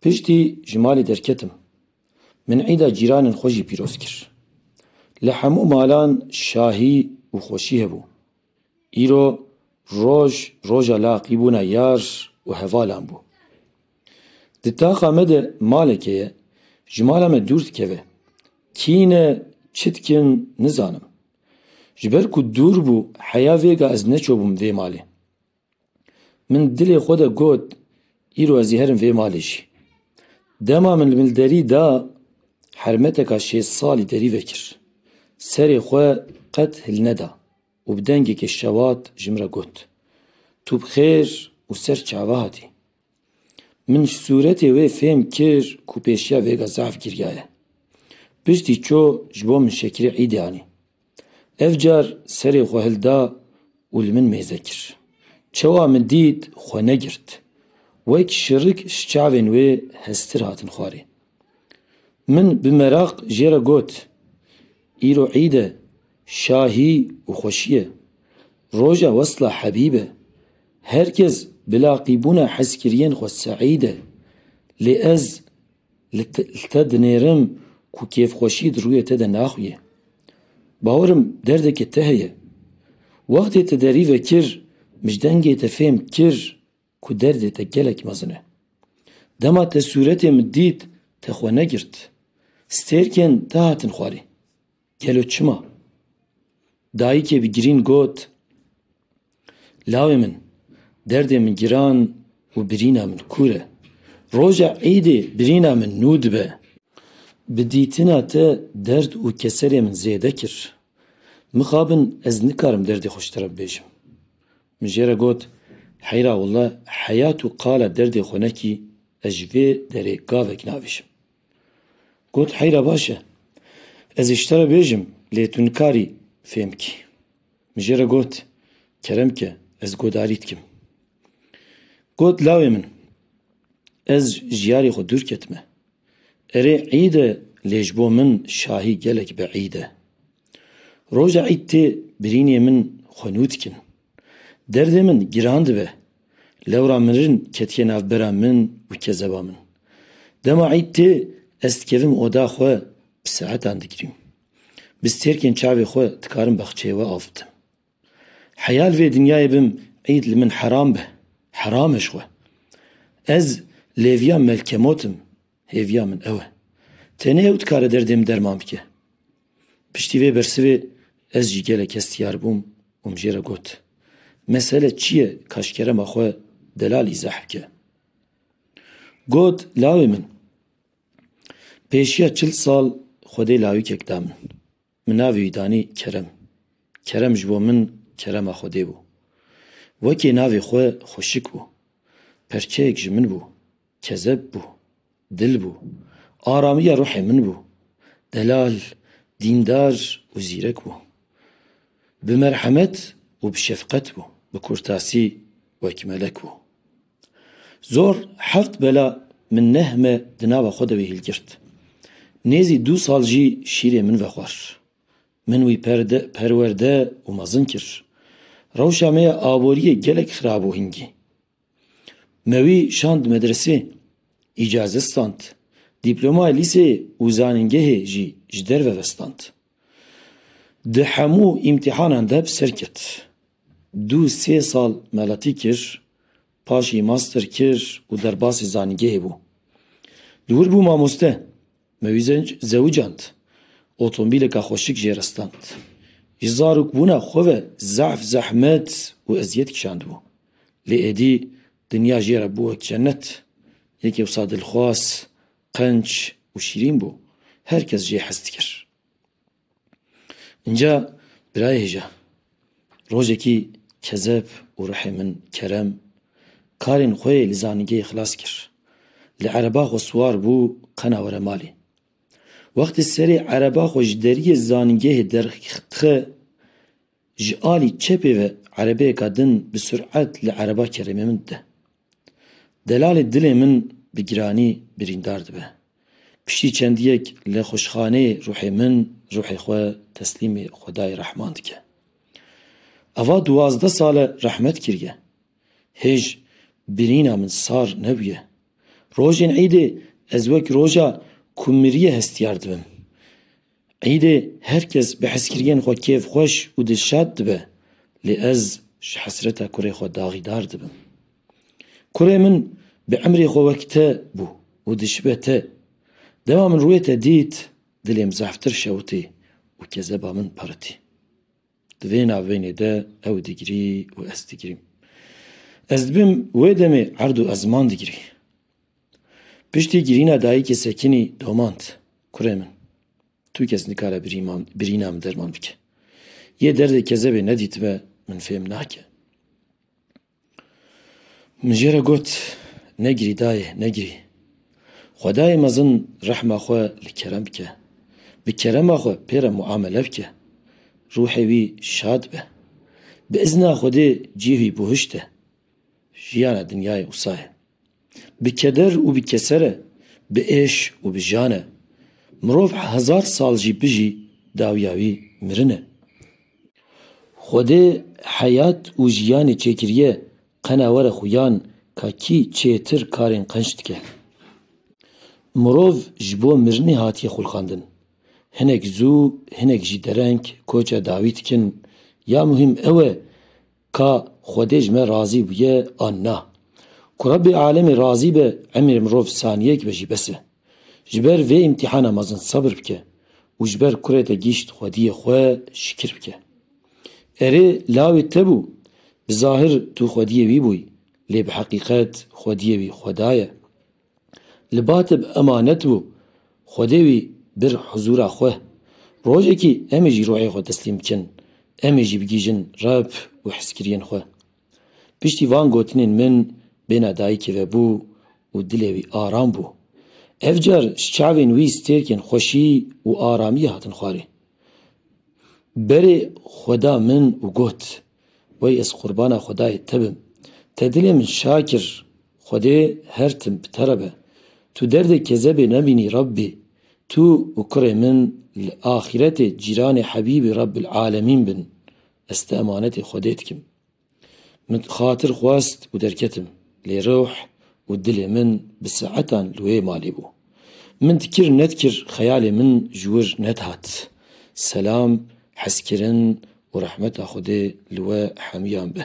Piştî ji malê derketim. Min îda cîranên xwe jî pîroz kir. Li hemû malan şahî û xweşî hebû. Îro roj roja laqî bûna yar û hevalan bû. Di taxa me de maleke ye, ji mala me dûr dikeve. Kî ne, çi dikin nizanim. Ji ber ku dûr bû heya vêga ez neçûbûm vê malê. Min dilê xwe de got, Îro ez ê herim vê malê jî. Dema min li min derî da, hermeteka şêst salî derî vekir. Serê xwe qet hilneda û bi dengekî şewat ji min re got, Tu bi xêr û ser çav hatî? Min ji sûretê wê fêm kir ku pêşiya vêga zaf giriya ye. Piştî çû ji bo min şekirê îdê anî. Ev car serê xwe hilda û li min mêze kir. Çawa min dît xwe negirt. Wek şirik ji çavên wê heztir hatin xwarê. Min bi meraq jê re got, Îro îd e, Şahî û xweşiye. Roja wesla Hebîb e. Her kes bi laqîbûna hezkiriyên xwe seîd e. Lê ez li te dinêrim ku kêfxweşî di rûyê te de naxuye. Bawerim derdeke te heye. Wextê te derî vekir, mij dengê te fêm kir Ku derdê te gelek mezin e. Dema te sûretê min dît, te xwe negirt. Stêrkên te hatin xwarê. Gelo çima? Dayikê bi girîn got, Lawê min, derdê min giran û birîna min kûr e. Roja Îdê birîna min nû dibe. Bi dîtina te derd û keserê min zêde kir. Mixabin ez nikarim derdê xwe ji te re bibêjim. Min jê re got, Heyra walla heya tu qala derdê xwe nekî, ez ji vê derê gavek navêjim. Got, Heyra baş e, ez ê ji te re bêjim, lê tu nikarî fêm bikî. Min jê re got, Kerem ke, ez godarî dikim. Got, Lawê min, ez ji yarê xwe dûr ketime. Erê îd e lê ji bo min şahî gelek bi îd e. Roja îd tê birînê min xwe nû dikin. Derdê min giran dibe. Lewra mirin ketiye nav bera min û kezeba min. Dema îd tê ez dikevim oda xwe bi saetan digrîm. Bi stêrkên çavê xwe dikarim baxçeyê we av bidim. Heya li vê dinyayê bim îd li min heram be. Heram e ji we. Ez lêviya Melkemot im, hêviya min ew e. Tenê ew dikare derdê min derman bike. Piştî vê bersivê ez jî gelek hestiyar bûm û min jê re got, Mesele çi ye ka ji kerema xwe delal îzah bike? Got, Lawê min, pêşiya çil sal xwedê lawikek da min. Min navê wî danî Kerem. Kerem ji bo min kerema Xwedê bû. Wekî navê xwe xweşik bû. Perçeyek ji min bû. Kezeb bû. Dil bû. Aramiya ruhê min bû. Delal, dîndar û zîrek bû. Bi merhemet û bi şefqet bû. Bi kurtasî wek melek bû. Zor heft bela min neh me di nava xwe de wî hilgirt. Nêzî du sal jî şîrê min vexwar. Min wî perwerde û mezin kir. Rewşa me ya aboriyê gelek xira bû hingî. Me wî şand medresê, îcazet stand, dîplomayê lîseyê û zanîngehê jî ji derve vestand. Di hemû îmtîhanan de bi ser ket. Du sê sal meletî kir, paşî master kir û derbasî zanîngehê bû. Di wir bû mamoste. Me wî zewicand. Otomobîleke xweşik jê re stand. Ji zarokbûna xwe ve zehf, zehmet û eziyet kişandibû. Lê êdî dinya jê re bû wek cenet. Yekê wisa dilxwaz, Qenc û şîrîn bû. Her kes jê hez dikir. Înca birayê hêja. Rojekî kezeb û rihê min Kerem karên xwe li zanîngehê xilas kir. Li ereba xwe siwar bû qena were malê. Wextê serê ereba xwe ji deriyê zanîngehê derxixi Ji alî çepê ve erebeyeka din bi suret li ereba keremê min dide. Delalê dilê min bi giranî birîndar dibe. Piştî çendiyek li xwişxaneyê ruhê min ruhê xwe teslîmê Xwedayê Rehman dike. Ava duwazdeh sal e rehmet kiriye. Hêj birîna min sar nebûye. Rojên îdê ez wek roja ku miriye hestiyar dibim. Eîdê her kes bi hezkiriyên xwe kêfxweş û dilşad dibe, lê ez ji hesreta kurê xwe daxîdar dibim. Kurê min bi emrê xwe wek te bû û dişibe te. Dema min rûyê te dît, dilê min zehftir şewitî û kezeba min piritî. Di vê navbênê de ew digirî û ez digirîm. Ez dibim wê demê erd û ezman digirî. Piştî girîna dayîkê Sekinî domand, Kurê min, tu kes nikare birîna min derman bike. Yê derdê kezebê nedîtibe min fêm nake. Min jê re got, Negirî dayê, negirî. Xwedayê mezin rehma xwe li kerem bike. Bi kerema xwe pê re muamele bike. Ruhê wî şad be. Bi izna Xwedê cî wî buhişt e. Jiyana dinyayê wisa ye. Bi keder û bi keser e, bi êş û bi jan e. Mirov hezar sal jî bijî dawiya wî mirin e. Xwedê heyat û jiyanê çêkiriye qena were xuyan ka kî çêtir karên qenc dike. Mirov ji bo mirinê hatiye xulqandin. Hinek zû hinek jî dereng koça dawî dikin. Ya muhîm ew e Ka Xwedê ji me razî bûye an na? Ku Rebê alemê razî be emrê mirov saniyek be jî bes e. Ji ber vê îmtîhana mezin sebir bike û ji ber kurê te gîşt Xwediyê xwe şikir bike. Erê lawê te bû, bi zahir tu Xwediyê wî bûyî lê bi heqîqet Xwediyê wî Xweda ye. Li batê bi emanet bû, Xwedê wî bir huzûra xwe. Rojekî em ê jî ruhê xwe teslîm bikin, em ê jî bigihîjin Reb û hizkiriyên xwe. Piştî van gotinên min bêhna dayikê ve bû û dilê wî aram bû. Ev car ji çavên wî stêrkên xweşî û aramiyê hatin xwarê. Berê xwe da min û got, Wey ez qurbana Xwedayê te bim. Te dilê min şa kir. Xwedê her tim bi te re be. Tu derdê kezebê nebînî Rabbî, tu û kurê min li axîretê cîranê Hebîbî Rabbil Alemîn bin. Ez ti emanetê Xwedê dikim. Min xatir xwest û derketim, lê ruh û dilê min bi saetan li wê malê bû. Min dikir nedikir xeyalê min ji wir nedihat. Selam, hezkirin û rehmeta Xwedê li we hemûyan be.